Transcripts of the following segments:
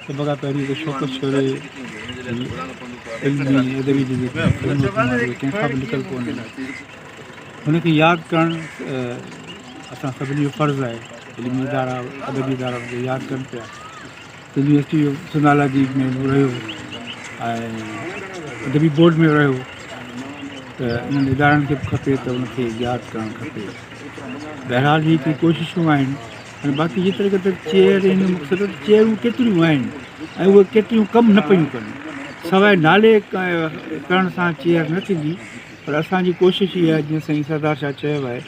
سڀ کان پهرين ته شوڪت شوري علمي ادبي جي جيڪي خدمتون آهي ڪنهن کان به لڪل ڪونهن هن کي ياد ڪرڻ اسان سڀني جو فرض آهي علمي ادارا ادبي ادارا هن کي ياد ڪن پيا يونيورسٽي جو سنڌالاجي ۾ به رهيو ۽ ادبي بورڊ ۾ رهيو ته انهن ادارن کي به کپي ته ان کي ياد ڪرڻ کپي بهرحال هي ڪي ڪوششون آهن ۽ باقي جيتري قدر چيئر ان مقصد چيئرون ڪيتريون آهن ۽ اهي ڪيتريون ڪم نه پيون ڪن سواء نالي ڪرڻ سان چيئر نه ٿيندي پر اسانجي ڪوشش اها جيئن سائين سردار شاهه چيو آهي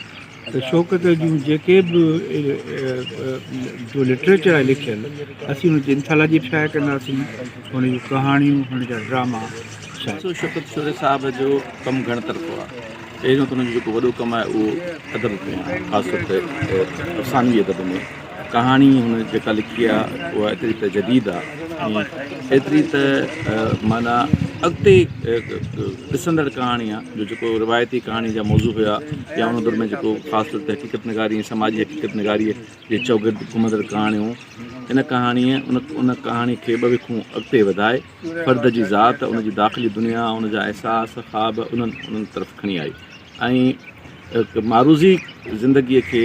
شوڪت جون جيڪي به جو لٽريچر آهي لکيل، اسين هن جي انٿالاجي شايع ڪنداسين، هن جون ڪهاڻيون، هن جا ڊراما شايع. ڏسو شوڪت شوري صاحب جو ڪم گهڻ طرفو آهي. پهريون ته هن جو جيڪو وڏو ڪم آهي اهو ادب ۾ آهي، خاص طور تي افسانوي ادب ۾. ڪهاڻي هن جيڪا لکي آ اها ايتري ته جديد آ ۽ ايتري ته معنيٰ اڳتي ڏسندڙ ڪهاڻي آ جو جيڪو روايتي ڪهاڻي جا موضوع هيا يا ان دور ۾ جيڪو خاص طور تي حقيقت نگاري ۽ سماجي حقيقت نگاريء جي چوگرد گهمندڙ ڪهاڻيون ان ڪهاڻيء ان ان ڪهاڻي کي ٻه وکون اڳتي وڌائي فرد جي ذات ان جي داخلي دنيا ان جا احساس خواب انهن انهن طرف کڻي آئي ۽ معروضي زندگيء کي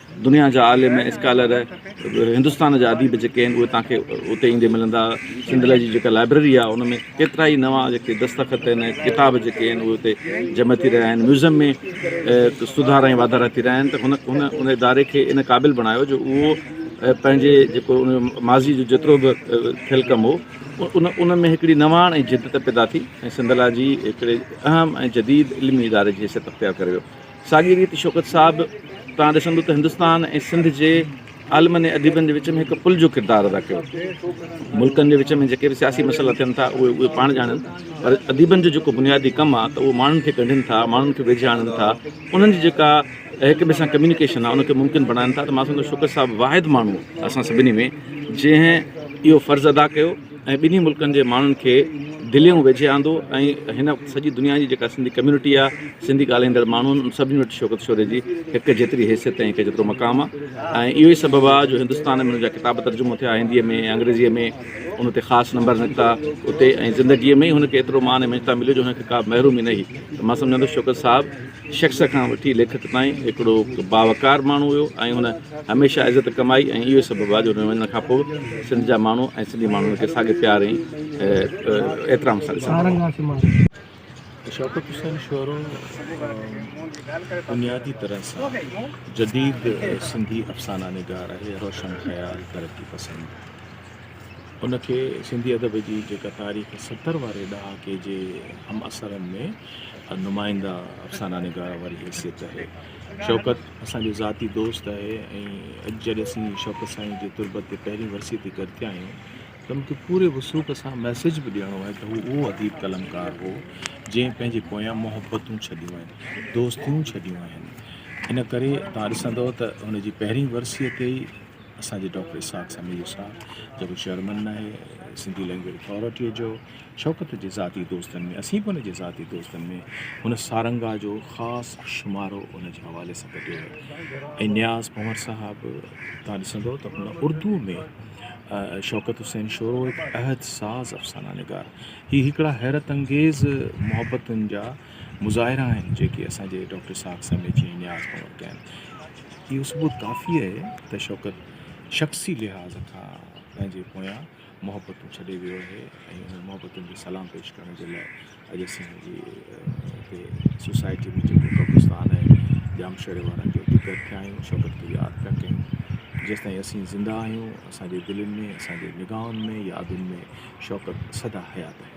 دنيا جا عالم ۽ اسڪالر، هندستان جا اديب جيڪي آهن اهي توهان کي اتي ايندي ملندا. سنڌ لاء جي جيڪا لائبرري آهي ان ۾ ڪيترائي نوان جيڪي دستخط آهن ۽ ڪتاب جيڪي آهن اهي اتي جمع ٿي رهيا آهن. ميوزم ۾ سڌارا ۽ واڌارا ٿي رهيا آهن ته هن ان اداري کي ان قابل بڻايو جو اهو پنهنجي جيڪو ان جو ماضي جو جيترو به ٿيل ڪم هو ان ان ۾ هڪڙي نواڻ ۽ جدت پيدا ٿي ۽ سنڌ لاء جي هڪڙي اهم ۽ جديد علمي اداري جي حيثيت اختيار ڪري ويو. ساڳي ريت شوڪت صاحب توهان ڏسندو ته هندستان ۽ سنڌ جي عالمن ۽ اديبن جي وچ ۾ هڪ پل جو ڪردار ادا ڪيو. ملڪن جي وچ ۾ جيڪي به سياسي مسئلا ٿين ٿا اهي اهي پاڻ ڄاڻن پر اديبن جو جيڪو بنيادي ڪم آهي ته اهو ماڻهن کي ڳنڍين ٿا، ماڻهن کي ويجهه آڻن ٿا، انهن جي جيڪا هڪ ٻئي سان ڪميونيڪيشن آهي ان کي ممڪن بڻائن ٿا ته مان سمجهندو آهيان شوڪت صاحب واحد ماڻهو آهي اسان سڀني ۾ جنهن اهو فرض ادا ڪيو. ۽ ٻنهي ملڪن جي ماڻهن کي دليون ويجهي آندو ۽ هن سڄي دنيا جي جيڪا سنڌي ڪميونٽي آ سنڌي ڳالهائيندڙ ماڻهو آهن ان سڀني وٽ شوڪت شوري جي هڪ جيتري حيثيت ۽ هڪ جيترو مقام آ ۽ اهو ئي سبب آ جو هندستان ۾ هن جا ڪتاب ترجمو ٿيا هندي ۾ انگريزي ۾ ان تي خاص نمبر نڪتا اتي ۽ زندگي ۾ ئي هن کي ايترو مان ۽ مڃتا مليو جو هن کي ڪا به محرومي نه هئي ته مان سمجهان ٿو شوڪت صاحب شخص کان وٺي ليکڪ تائين هڪڙو باوقار ماڻهو هيو ۽ هن هميشه عزت ڪمائي ۽ اهو ئي سبب آهي جو هن وڃڻ کان پوء به سنڌ جا ماڻهو ۽ سنڌي ماڻهو هن کي ساڳي پيار ۽ احترام سان ڏسندا رهندا. شوڪت حسين شورو بنيادي طرح سان جديد سنڌي افسانه نگار آهي، روشن خيال، ترقي پسند. ان کي سنڌي ادب جي جيڪا تاريخ ستر واري ڏهاڪي جي همعصرن ۾. نمائنده افسانه نگار واري حيثيت آهي شوڪت اسان جو ذاتي دوست آهي ۽ اڄ جڏهن اسين شوڪت سائين جي تربت تي پهرين ورسيء تي گڏجا آهيون ته مون کي پوري وثوق سان ميسيج به ڏيڻو آهي ته هو اهو اديب قلمڪار هو جنهن پنهنجي پويان محبتون ڇڏيون آهن دوستيون ڇڏيون آهن ان ڪري توهان ڏسندؤ ته هن جي پهرين ورسيء تي ئي اسان جي ڊاڪٽر اسحاق سميجو صاحب جيڪو چيئرمن آهي سنڌي لينگويج اٿارٽيء جو شوڪت جي ذاتي دوستن ۾ اسين به ان جي ذاتي دوستن ۾ هن سارنگا جو خاص شمارو ان جي حوالي سان ڪڍيو آهي ۽ نياز پنور صاحب تان ڏسندو ته هن اردو ۾ شوڪت حسين شورو هڪ عهد ساز افسانه نگار هي هڪڙا حيرت انگيز محبتن جا مظاهرا آهن جيڪي اسان جي ڊاڪٽر ساک سمي جي نياز پنور ڪيا آهن اهو ثبوت ڪافي آهي ته شوڪت شخصي لحاظ کان پنهنجي پويان محبتون ڇڏي ويو آهي ۽ انهن محبتن کي سلام پيش ڪرڻ جي لاء اڄ اسين جي هتي سوسائٽي ۾ جيڪو قبرستان آهي ڄامشوري وارن جو اتي گڏ ٿيا آهيون شوڪت کي ياد پيا ڪيون جيستائين اسين زنده آهيون اسان جي دلين ۾ اسان جي نگاهن ۾ يادن ۾ شوڪت سدا حيات آهي.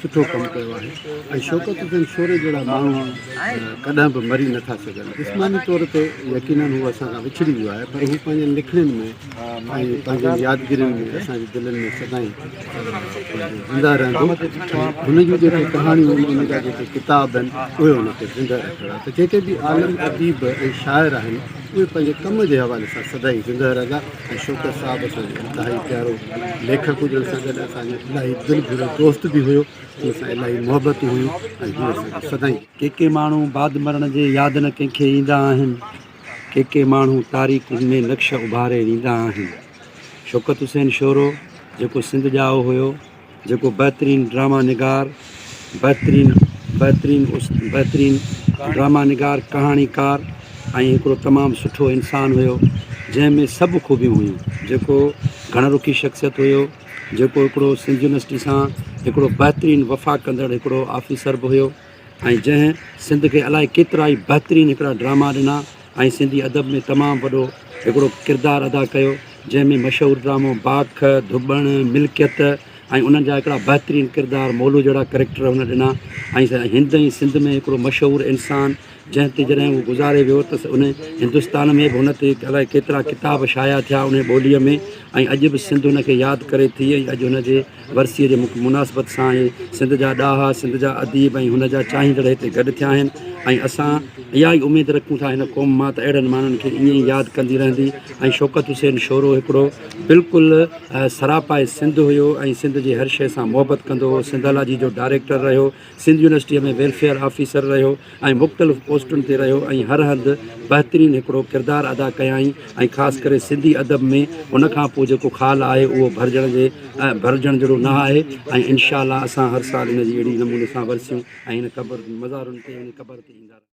سٺو ڪم ڪيو آهي ۽ شوڪت حسين شوري جهڙا ماڻهو ڪڏهن به مري نٿا سگهن جسماني طور تي يقيناً هو اسان کان وڇڙي ويو آهي پر هو پنهنجين لکڻين ۾ ۽ پنهنجين يادگيرين ۾ اسان جي دلين ۾ سدائين زنده رهندو هن جون جيڪي ڪهاڻيون آهن هن جا جيڪي ڪتاب آهن اهي هن کي زنده رکندا ته جيڪي به عالم اديب ۽ شاعر آهن اهي پنهنجي ڪم جي حوالي سان سدائين زنده رهندا شوڪت صاحب اسان جو انتهائي پيارو ليکڪ هجڻ سان گڏ اسان جو الاهي دل گهرو دوست به هيو ان سان الاهي محبتون هيون ۽ هيون اسان کي سدائين ڪي ڪي ماڻهو بعد مرڻ جي ياد نه ڪنهن کي ايندا آهن ڪي ڪي ماڻهو تاريڪن ۾ نقش اڀاري ويندا آهن شوڪت حسين شورو جيڪو سنڌ ڄائو هيو جيڪو بهترين ڊرامه نگار بهترين بهترين بهترين ڊرامه نگار ڪهاڻي ڪار ۽ هڪڙو تمام سٺو انسان هيو جنهن ۾ سڀ خوبيون هيون جيڪو گهڻ رخي شخصيت هيو جيڪو هڪڙو سنڌ يونيورسٽي سان هڪڙو بهترين وفا ڪندڙ هڪڙو آفيسر به هيو ۽ جنهن سنڌ کي الائي ڪيترائي بهترين هڪڙا ڊراما ڏنا ۽ سنڌي ادب ۾ تمام وڏو هڪڙو ڪردار ادا ڪيو جنهن ۾ مشهور ڊرامو باک، ڌٻڻ، ملڪيت ۽ انهن جا هڪڙا بهترين ڪردار مولو جهڙا ڪريڪٽر هن ڏنا ۽ هند ۽ سنڌ ۾ هڪڙو مشهور انسان جنهن تي جڏهن هو گذاري ويو ته ان هندستان ۾ به هن تي الائي ڪيترا ڪتاب شايع ٿيا انهي ٻوليء ۾ ۽ اڄ به سنڌ هن کي ياد ڪري ٿي ۽ اڄ هن جي ورسيء جي مناسبت سان ئي سنڌ جا ڏاها، سنڌ جا اديب ۽ هن جا چاهيندڙ هتي گڏ ٿيا آهن ۽ اسان اها ئي اميد رکون ٿا هن قوم مان ته اهڙن ماڻهن کي ائين ئي ياد ڪندي رهندي ۽ شوڪت حسين شورو هڪڙو بلڪل سراپا سنڌ هيو ۽ سنڌ جي هر شيء سان محبت ڪندو هو سنڌالاجي جو ڊائريڪٽر رهيو سنڌ يونيورسٽيء ۾ ويلفيئر آفيسر رهيو ۽ مختلف پوسٽن تي رهيو ۽ هر هنڌ بهترين هڪڙو ڪردار ادا ڪيائين ۽ خاص ڪري سنڌي ادب ۾ هن کان پوء جيڪو خال آهي اهو ڀرجڻ جي ڀرجڻ جهڙو نه آهي ۽ انشاء الله اسان هر سال هن جي اهڙي نموني سان ورسيون ۽ هن قبر مزارن تي هن قبر تي ايندا رهنداسين.